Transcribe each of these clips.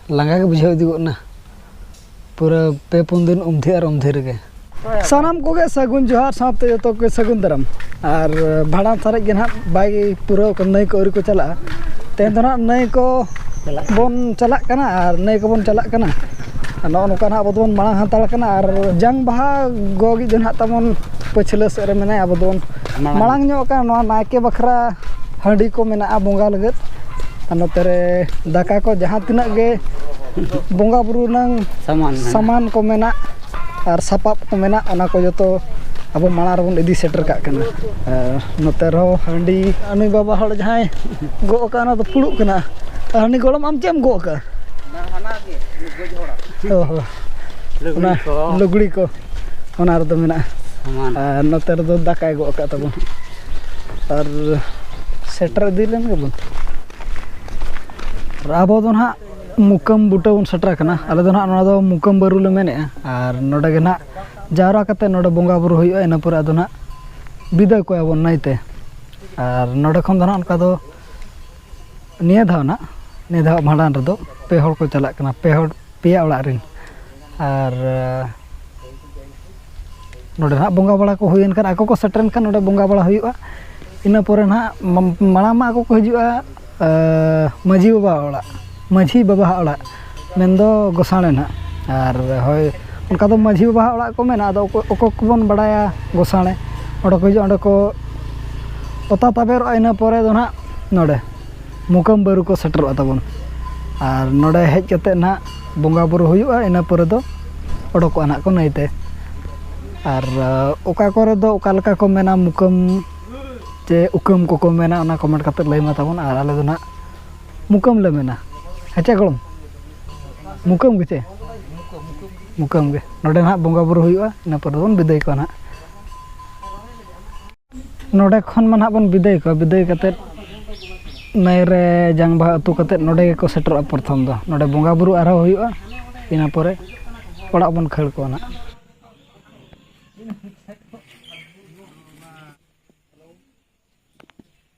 ᱞᱟᱸᱜᱟ ᱜᱮ ᱵᱩᱡᱷᱟᱹᱣ ᱤᱫᱤ ᱜᱚᱫ ᱮᱱᱟ ᱯᱩᱨᱟᱹ ᱯᱮ ᱯᱩᱱ ᱫᱤᱱ ᱩᱢᱫᱷᱤ ᱟᱨ ᱩᱢᱫᱷᱤ ᱨᱮᱜᱮ ᱥᱟᱱᱟᱢ ᱠᱚᱜᱮ ᱥᱟᱹᱜᱩᱱ ᱡᱚᱦᱟᱨ ᱥᱟᱶᱛᱮ ᱡᱚᱛᱚ ᱠᱚᱜᱮ ᱥᱟᱹᱜᱩᱱ ᱫᱟᱨᱟᱢ ᱟᱨ ᱵᱷᱟᱸᱰᱟᱱ ᱥᱟᱨᱮᱡ ᱜᱮ ᱱᱟᱦᱟᱜ ᱵᱟᱭ ᱯᱩᱨᱟᱹᱣ ᱠᱟᱱᱟ ᱱᱟᱹᱭ ᱠᱚ ᱟᱹᱣᱨᱤ ᱠᱚ ᱪᱟᱞᱟᱜᱼᱟ ᱛᱮᱦᱮᱧ ᱫᱚ ᱱᱟᱦᱟᱜ ᱱᱟᱹᱭ ᱠᱚ ᱵᱚᱱ ᱪᱟᱞᱟᱜ ᱠᱟᱱᱟ ᱟᱨ ᱱᱟᱹᱭ ᱠᱚᱵᱚᱱ ᱪᱟᱞᱟᱜ ᱠᱟᱱᱟ ᱟᱨ ᱱᱚᱜᱼᱚ ᱱᱚᱝᱠᱟ ᱱᱟᱦᱟᱜ ᱟᱵᱚ ᱫᱚᱵᱚᱱ ᱢᱟᱲᱟᱝ ᱦᱟᱛᱟᱲ ᱠᱟᱱᱟ ᱟᱨ ᱡᱟᱝ ᱵᱟᱦᱟ ᱜᱚᱜᱤᱡ ᱫᱚ ᱱᱟᱦᱟᱜ ᱛᱟᱵᱚᱱ ᱯᱟᱹᱪᱷᱞᱟᱹ ᱥᱮᱫ ᱨᱮ ᱢᱮᱱᱟᱭᱟ ᱟᱵᱚ ᱫᱚᱵᱚᱱ ᱢᱟᱲᱟᱝ ᱧᱚᱜ ᱟᱠᱟᱱ ᱱᱚᱣᱟ ᱱᱟᱭᱠᱮ ᱵᱟᱠᱷᱨᱟ ᱦᱟᱺᱰᱤ ᱠᱚ ᱢᱮᱱᱟᱜᱼᱟ ᱵᱚᱸᱜᱟ ᱞᱟᱹᱜᱤᱫ ᱟᱨ ᱱᱚᱛᱮ ᱨᱮ ᱫᱟᱠᱟ ᱠᱚ ᱡᱟᱦᱟᱸ ᱛᱤᱱᱟᱹᱜ ᱜᱮ ᱵᱚᱸᱜᱟ ᱵᱩᱨᱩ ᱨᱮᱱᱟᱝ ᱥᱟᱢᱟᱱ ᱠᱚ ᱢᱮᱱᱟᱜ ᱟᱨ ᱥᱟᱯᱟᱵ ᱠᱚ ᱢᱮᱱᱟᱜ ᱚᱱᱟ ᱠᱚ ᱡᱚᱛᱚ ᱟᱵᱚ ᱢᱟᱲᱟᱝ ᱨᱮᱵᱚᱱ ᱤᱫᱤ ᱥᱮᱴᱮᱨ ᱠᱟᱜ ᱠᱟᱱᱟ ᱟᱨ ᱱᱚᱛᱮ ᱨᱮᱦᱚᱸ ᱦᱟᱺᱰᱤ ᱩᱱᱤ ᱵᱟᱵᱟ ᱦᱚᱲ ᱡᱟᱦᱟᱸᱭ ᱜᱚᱜ ᱠᱟᱜᱼᱟ ᱚᱱᱟ ᱫᱚ ᱯᱷᱩᱲᱩᱜ ᱠᱟᱱᱟ ᱟᱨ ᱩᱱᱤ ᱜᱚᱲᱚᱢ ᱟᱢ ᱪᱮᱫ ᱮᱢ ᱜᱚᱜ ᱠᱟᱜᱼᱟ ᱚ ᱦᱚᱸ ᱚᱱᱟ ᱞᱩᱜᱽᱲᱤ ᱠᱚ ᱚᱱᱟ ᱨᱮᱫᱚ ᱢᱮᱱᱟᱜᱼᱟ ᱟᱨ ᱱᱚᱛᱮ ᱨᱮᱫᱚ ᱫᱟᱠᱟᱭ ᱜᱚᱜ ᱟᱠᱟᱫ ᱛᱟᱵᱚᱱ ᱟᱨ ᱥᱮᱴᱮᱨ ᱤᱫᱤ ᱞᱮᱱ ᱜᱮᱵᱚᱱ ᱟᱨ ᱟᱵᱚ ᱫᱚ ᱱᱟᱦᱟᱜ ᱢᱩᱠᱟᱹᱢ ᱵᱩᱴᱟᱹ ᱵᱚᱱ ᱥᱮᱴᱮᱨ ᱟᱠᱟᱱᱟ ᱟᱞᱮ ᱫᱚ ᱱᱟᱦᱟᱜ ᱱᱚᱣᱟ ᱫᱚ ᱢᱩᱠᱟᱹᱢ ᱵᱟᱹᱨᱩ ᱞᱮ ᱢᱮᱱᱮᱫᱼᱟ ᱟᱨ ᱱᱚᱰᱮ ᱜᱮ ᱱᱟᱦᱟᱜ ᱡᱟᱣᱨᱟ ᱠᱟᱛᱮᱫ ᱱᱚᱰᱮ ᱵᱚᱸᱜᱟ ᱵᱩᱨᱩ ᱦᱩᱭᱩᱜᱼᱟ ᱤᱱᱟᱹ ᱯᱚᱨᱮ ᱟᱫᱚ ᱱᱟᱦᱟᱜ ᱵᱤᱫᱟᱹᱭ ᱠᱚᱣᱟ ᱵᱚᱱ ᱱᱟᱹᱭᱛᱮ ᱟᱨ ᱱᱚᱰᱮ ᱠᱷᱚᱱ ᱫᱚ ᱱᱟᱦᱟᱜ ᱚᱱᱠᱟ ᱫᱚ ᱱᱤᱭᱟᱹ ᱫᱷᱟᱣ ᱱᱟᱦᱟᱜ ᱱᱤᱭᱟᱹ ᱫᱷᱟᱣ ᱵᱷᱟᱸᱰᱟᱱ ᱨᱮᱫᱚ ᱯᱮ ᱦᱚᱲ ᱠᱚ ᱪᱟᱞᱟᱜ ᱠᱟᱱᱟ ᱯᱮ ᱦᱚᱲ ᱯᱮᱭᱟ ᱚᱲᱟᱜ ᱨᱮᱱ ᱟᱨ ᱱᱚᱰᱮ ᱦᱟᱸᱜ ᱵᱚᱸᱜᱟ ᱵᱟᱲᱟ ᱠᱚ ᱦᱩᱭᱮᱱ ᱠᱷᱟᱱ ᱟᱠᱚ ᱠᱚ ᱥᱮᱴᱮᱨᱮᱱ ᱠᱷᱟᱱ ᱱᱚᱰᱮ ᱵᱚᱸᱜᱟ ᱵᱟᱲᱟ ᱦᱩᱭᱩᱜᱼᱟ ᱤᱱᱟᱹ ᱯᱚᱨᱮ ᱱᱟᱦᱟᱜ ᱢᱟᱲᱟᱝ ᱢᱟ ᱟᱠᱚ ᱠᱚ ᱦᱤᱡᱩᱜᱼᱟ ᱢᱟᱺᱡᱷᱤ ᱵᱟᱵᱟᱣᱟᱜ ᱚᱲᱟᱜ ᱢᱟᱺᱡᱷᱤ ᱵᱟᱵᱟᱣᱟᱜ ᱚᱲᱟᱜ ᱢᱮᱱᱫᱚ ᱜᱚᱥᱟᱬᱮ ᱱᱟᱦᱟᱜ ᱟᱨ ᱦᱳᱭ ᱚᱱᱠᱟ ᱫᱚ ᱢᱟᱺᱡᱷᱤ ᱵᱟᱵᱟᱣᱟᱜ ᱚᱲᱟᱜ ᱠᱚ ᱢᱮᱱᱟ ᱟᱫᱚ ᱚᱠᱚᱭ ᱚᱠᱚᱭ ᱠᱚᱵᱚᱱ ᱵᱟᱲᱟᱭᱟ ᱜᱚᱥᱟᱬᱮ ᱚᱸᱰᱮ ᱠᱚ ᱦᱤᱡᱩᱜᱼᱟ ᱚᱸᱰᱮ ᱠᱚ ᱚᱛᱟ ᱛᱟᱵᱮᱨᱚᱜᱼᱟ ᱤᱱᱟᱹ ᱯᱚᱨᱮ ᱫᱚ ᱱᱟᱦᱟᱜ ᱱᱚᱰᱮ ᱢᱩᱠᱟᱹᱢ ᱵᱟᱹᱨᱩ ᱠᱚ ᱥᱮᱴᱮᱨᱚᱜᱼᱟ ᱛᱟᱵᱚᱱ ᱟᱨ ᱱᱚᱰᱮ ᱦᱮᱡ ᱠᱟᱛᱮᱫ ᱱᱟᱜ ᱵᱚᱸᱜᱟ ᱵᱳᱨᱳ ᱦᱩᱭᱩᱜᱼᱟ ᱤᱱᱟᱹ ᱯᱚᱨᱮ ᱫᱚ ᱚᱰᱚᱠᱚᱜᱼᱟ ᱱᱟᱜ ᱠᱚ ᱱᱟᱹᱭᱛᱮ ᱟᱨ ᱚᱠᱟ ᱠᱚᱨᱮ ᱫᱚ ᱚᱠᱟ ᱞᱮᱠᱟ ᱠᱚ ᱢᱮᱱᱟ ᱢᱩᱠᱟᱹᱢ ᱪᱮ ᱩᱠᱟᱹᱢ ᱠᱚᱠᱚ ᱢᱮᱱᱟ ᱚᱱᱟ ᱠᱚᱢᱮᱱᱴ ᱠᱟᱛᱮᱫ ᱞᱟᱹᱭ ᱢᱮ ᱛᱟᱵᱚᱱ ᱟᱨ ᱟᱞᱮ ᱫᱚ ᱱᱟᱜ ᱢᱩᱠᱟᱹᱢ ᱞᱮ ᱢᱮᱱᱟ ᱦᱮᱸᱪᱮ ᱜᱚᱲᱚᱢ ᱢᱩᱠᱟᱹᱢ ᱜᱮᱪᱮ ᱢᱩᱠᱟᱹᱢ ᱜᱮ ᱱᱚᱰᱮ ᱱᱟᱜ ᱵᱚᱸᱜᱟ ᱵᱳᱨᱳ ᱦᱩᱭᱩᱜᱼᱟ ᱤᱱᱟᱹ ᱯᱚᱨᱮ ᱫᱚᱵᱚᱱ ᱵᱤᱫᱟᱹᱭ ᱠᱚᱣᱟ ᱱᱟᱜ ᱱᱚᱰᱮ ᱠᱷᱚᱱ ᱢᱟ ᱦᱟᱸᱜ ᱵᱚᱱ ᱵᱤᱫᱟᱹᱭ ᱠᱚᱣᱟ ᱵᱤᱫᱟᱹᱭ ᱠᱟᱛᱮᱫ ᱱᱟᱹᱭ ᱨᱮ ᱡᱟᱝ ᱵᱟᱦᱟ ᱟᱹᱛᱩ ᱠᱟᱛᱮᱫ ᱱᱚᱰᱮ ᱜᱮᱠᱚ ᱥᱮᱴᱮᱨᱚᱜᱼᱟ ᱯᱨᱚᱛᱷᱚᱢ ᱫᱚ ᱱᱚᱰᱮ ᱵᱚᱸᱜᱟᱼᱵᱩᱨᱩ ᱟᱨᱦᱚᱸ ᱦᱩᱭᱩᱜᱼᱟ ᱤᱱᱟᱹ ᱯᱚᱨᱮ ᱚᱲᱟᱜ ᱵᱚᱱ ᱠᱷᱟᱹᱲ ᱠᱚᱣᱟ ᱦᱟᱸᱜ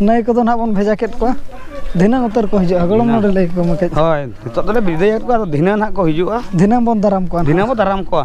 ᱱᱟᱹᱭ ᱠᱚᱫᱚ ᱱᱟᱦᱟᱜ ᱵᱚᱱ ᱵᱷᱮᱡᱟ ᱠᱮᱫ ᱠᱚᱣᱟ ᱫᱷᱤᱱᱟᱹᱝ ᱩᱛᱟᱹᱨ ᱠᱚ ᱦᱤᱡᱩᱜᱼᱟ ᱜᱚᱲᱚᱢ ᱱᱚᱰᱮ ᱞᱟᱹᱭ ᱠᱚᱢᱟ ᱠᱟᱹᱡ ᱦᱳᱭ ᱱᱤᱛᱚᱜ ᱫᱚᱞᱮ ᱵᱤᱫᱟᱹᱭᱮᱫ ᱠᱚᱣᱟ ᱟᱫᱚ ᱫᱷᱤᱱᱟᱹᱝ ᱱᱟᱦᱟᱜ ᱠᱚ ᱦᱤᱡᱩᱜᱼᱟ ᱫᱷᱤᱱᱟᱹᱝ ᱵᱚᱱ ᱫᱟᱨᱟᱢ ᱠᱚᱣᱟ ᱫᱷᱤᱱᱟᱹᱝ ᱵᱚᱱ ᱫᱟᱨᱟᱢ ᱠᱚᱣᱟ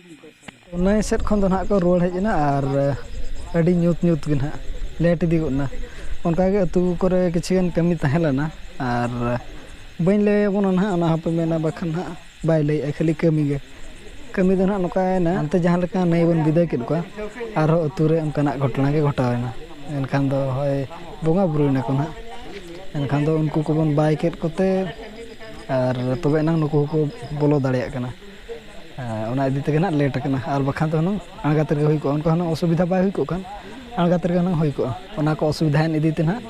ᱱᱟᱹᱭ ᱥᱮᱫ ᱠᱷᱚᱱ ᱫᱚ ᱱᱟᱦᱟᱜ ᱠᱚ ᱨᱩᱣᱟᱹᱲ ᱦᱮᱡ ᱮᱱᱟ ᱟᱨ ᱟᱹᱰᱤ ᱧᱩᱛ ᱧᱩᱛ ᱜᱮ ᱱᱟᱦᱟᱜ ᱞᱮᱹᱴ ᱤᱫᱤ ᱜᱚᱫ ᱮᱱᱟ ᱚᱱᱠᱟ ᱜᱮ ᱟᱹᱛᱩ ᱠᱚᱨᱮ ᱠᱤᱪᱷᱩ ᱜᱟᱱ ᱠᱟᱹᱢᱤ ᱛᱟᱦᱮᱸ ᱞᱮᱱᱟ ᱟᱨ ᱵᱟᱹᱧ ᱞᱟᱹᱭ ᱟᱵᱚᱱᱟ ᱱᱟᱦᱟᱜ ᱚᱱᱟ ᱦᱚᱸᱯᱮ ᱢᱮᱱᱟ ᱵᱟᱠᱷᱟᱱ ᱱᱟᱦᱟᱜ ᱵᱟᱭ ᱞᱟᱹᱭᱮᱜᱼᱟ ᱠᱷᱟᱹᱞᱤ ᱠᱟᱹᱢᱤ ᱜᱮ ᱠᱟᱹᱢᱤ ᱫᱚ ᱱᱟᱦᱟᱜ ᱱᱚᱝᱠᱟᱭᱮᱱᱟ ᱦᱟᱱᱛᱮ ᱡᱟᱦᱟᱸ ᱞᱮᱠᱟ ᱱᱟᱹᱭ ᱵᱚᱱ ᱵᱤᱫᱟᱹᱭ ᱠᱮᱫ ᱠᱚᱣᱟ ᱟᱨᱦᱚᱸ ᱟᱹᱛᱩ ᱨᱮ ᱚᱱᱠᱟᱱᱟᱜ ᱜᱷᱚᱴᱚᱱᱟ ᱜᱮ ᱜᱷᱚᱴᱟᱣᱮᱱᱟ ᱮᱱᱠᱷᱟᱱ ᱫᱚ ᱦᱳᱭ ᱵᱚᱸᱜᱟ ᱵᱳᱨᱳᱭ ᱱᱟᱠᱚ ᱱᱟᱦᱟᱜ ᱮᱱᱠᱷᱟᱱ ᱫᱚ ᱩᱱᱠᱩ ᱠᱚᱵᱚᱱ ᱵᱟᱭ ᱠᱮᱫ ᱠᱚᱛᱮ ᱟᱨ ᱛᱚᱵᱮ ᱮᱱᱟᱝ ᱱᱩᱠᱩ ᱦᱚᱸᱠᱚ ᱵᱚᱞᱚ ᱫᱟᱲᱮᱭᱟᱜ ᱠᱟᱱᱟ ᱚᱱᱟ ᱤᱫᱤ ᱛᱮᱜᱮ ᱱᱟᱜ ᱞᱮᱴ ᱠᱟᱱᱟ ᱟᱨ ᱵᱟᱠᱷᱟᱱ ᱫᱚ ᱦᱩᱱᱟᱹᱝ ᱟᱬᱜᱟᱛ ᱨᱮᱜᱮ ᱦᱩᱭ ᱠᱚᱜᱼᱟ ᱚᱱᱠᱟ ᱦᱩᱱᱟᱹᱝ ᱚᱥᱩᱵᱤᱫᱷᱟ ᱵᱟᱭ ᱦᱩᱭ ᱠᱚᱜ ᱠᱷᱟᱱ ᱟᱬᱜᱟᱛ ᱨᱮᱜᱮ ᱦᱩᱱᱟᱹᱝ ᱦᱩᱭ ᱠᱚᱜᱼᱟ ᱚᱱᱟ ᱠᱚ ᱚᱥᱩᱵᱤᱫᱷᱟᱭᱮᱱ ᱤᱫᱤ ᱛᱮ ᱱᱟᱜ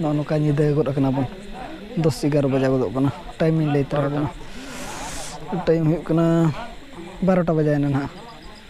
ᱱᱚᱜᱼᱚ ᱱᱚᱝᱠᱟ ᱧᱤᱫᱟᱹ ᱜᱚᱫ ᱠᱟᱱᱟ ᱵᱚᱱ ᱫᱚᱥ ᱮᱜᱟᱨᱚ ᱵᱟᱡᱟᱣ ᱜᱚᱫᱚᱜ ᱠᱟᱱᱟ ᱴᱟᱭᱤᱢ ᱤᱧ ᱞᱟᱹᱭ ᱛᱟᱨᱟ ᱟᱵᱚᱱᱟ ᱴᱟᱭᱤᱢ ᱦᱩᱭᱩᱜ ᱠᱟᱱᱟ ᱵᱟᱨᱚᱴᱟ ᱵᱟᱡᱟᱣᱮᱱᱟ ᱱᱟᱜ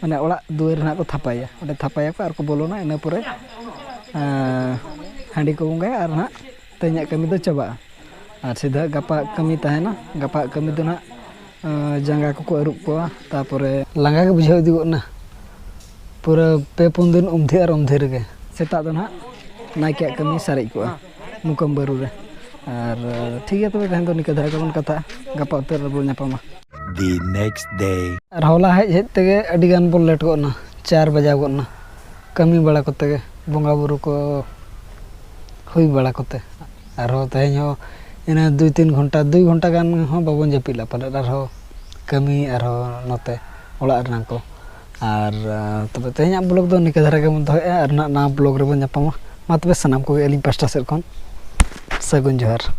ᱢᱟᱱᱮ ᱚᱲᱟᱜ ᱫᱩᱣᱟᱹᱨ ᱨᱮ ᱱᱟᱦᱟᱜ ᱠᱚ ᱛᱷᱟᱯᱟᱭᱟ ᱚᱸᱰᱮ ᱛᱷᱟᱯᱟᱭᱟᱠᱚ ᱟᱨ ᱠᱚ ᱵᱚᱞᱚᱱᱟ ᱤᱱᱟᱹ ᱯᱚᱨᱮ ᱦᱟᱺᱰᱤ ᱠᱚ ᱵᱚᱸᱜᱟᱭᱟ ᱟᱨ ᱱᱟᱦᱟᱜ ᱛᱮᱦᱮᱧᱟᱜ ᱠᱟᱹᱢᱤ ᱫᱚ ᱪᱟᱵᱟᱜᱼᱟ ᱟᱨ ᱥᱤᱫᱷᱟᱹ ᱜᱟᱯᱟᱣᱟᱜ ᱠᱟᱹᱢᱤ ᱛᱟᱦᱮᱱᱟ ᱜᱟᱯᱟᱣᱟᱜ ᱠᱟᱹᱢᱤ ᱫᱚ ᱱᱟᱦᱟᱜ ᱡᱟᱸᱜᱟ ᱠᱚᱠᱚ ᱟᱹᱨᱩᱵ ᱠᱚᱣᱟ ᱛᱟᱨᱯᱚᱨᱮ ᱞᱟᱸᱜᱟ ᱜᱮ ᱵᱩᱡᱷᱟᱹᱣ ᱤᱫᱤ ᱜᱚᱫ ᱮᱱᱟ ᱯᱩᱨᱟᱹ ᱯᱮ ᱯᱩᱱ ᱫᱤᱱ ᱩᱢᱫᱷᱤ ᱟᱨ ᱩᱢᱫᱷᱤ ᱨᱮᱜᱮ ᱥᱮᱛᱟᱜ ᱫᱚ ᱱᱟᱦᱟᱜ ᱱᱟᱭᱠᱮᱭᱟᱜ ᱠᱟᱹᱢᱤ ᱥᱟᱨᱮᱡ ᱠᱚᱜᱼᱟ ᱢᱩᱠᱟᱢ ᱵᱟᱹᱨᱩ ᱨᱮ ᱟᱨ ᱴᱷᱤᱠ ᱜᱮᱭᱟ ᱛᱚᱵᱮ ᱛᱮᱦᱮᱧ ᱫᱚ ᱱᱤᱝᱠᱟᱹ ᱫᱷᱟᱨᱟ ᱜᱮᱵᱚᱱ ᱠᱟᱛᱷᱟᱜᱼᱟ ᱜᱟᱯᱟ ᱩᱛᱟᱹᱨ ᱨᱮᱵᱚᱱ ᱧᱟᱯᱟᱢᱟ ᱫᱤ ᱱᱮᱠᱥᱴ ᱰᱮ ᱟᱨ ᱦᱚᱞᱟ ᱦᱮᱡ ᱦᱮᱡ ᱛᱮᱜᱮ ᱟᱹᱰᱤ ᱜᱟᱱ ᱵᱚᱱ ᱞᱮᱴ ᱜᱚᱫ ᱮᱱᱟ ᱪᱟᱨ ᱵᱟᱡᱟᱣ ᱜᱚᱫ ᱮᱱᱟ ᱠᱟᱹᱢᱤ ᱵᱟᱲᱟ ᱠᱚᱛᱮ ᱜᱮ ᱵᱚᱸᱜᱟ ᱵᱩᱨᱩ ᱠᱚ ᱦᱩᱭ ᱵᱟᱲᱟ ᱠᱚᱛᱮ ᱟᱨᱦᱚᱸ ᱛᱮᱦᱮᱧ ᱦᱚᱸ ᱤᱱᱟᱹ ᱫᱩᱭ ᱛᱤᱱ ᱜᱷᱚᱱᱴᱟ ᱫᱩᱭ ᱜᱷᱚᱱᱴᱟ ᱜᱟᱱ ᱦᱚᱸ ᱵᱟᱵᱚᱱ ᱡᱟᱹᱯᱤᱫ ᱞᱮᱫᱟ ᱯᱟᱞᱮᱫ ᱟᱨᱦᱚᱸ ᱠᱟᱹᱢᱤ ᱟᱨᱦᱚᱸ ᱱᱚᱛᱮ ᱚᱲᱟᱜ ᱨᱮᱱᱟᱜ ᱠᱚ ᱟᱨ ᱛᱚᱵᱮ ᱛᱮᱦᱮᱧᱟᱜ ᱵᱞᱚᱜᱽ ᱫᱚ ᱱᱤᱝᱠᱟᱹ ᱫᱷᱟᱨᱟ ᱜᱮᱵᱚᱱ ᱫᱚᱦᱚᱭᱮᱜᱼᱟ ᱟᱨ ᱱᱟᱦᱟᱜ ᱱᱟᱣᱟ ᱵᱞᱚᱜᱽ ᱨᱮᱵᱚᱱ ᱧᱟᱯᱟᱢᱟ ᱢᱟ ᱛᱚᱵᱮ ᱥᱟᱱᱟᱢ ᱠᱚᱜᱮ ᱟᱹᱞᱤᱧ ᱯᱟᱥᱴᱟ ᱥᱮᱫ ᱠᱷᱚᱱ ᱥᱟᱹᱜᱩᱱ ᱡᱚᱦᱟᱨ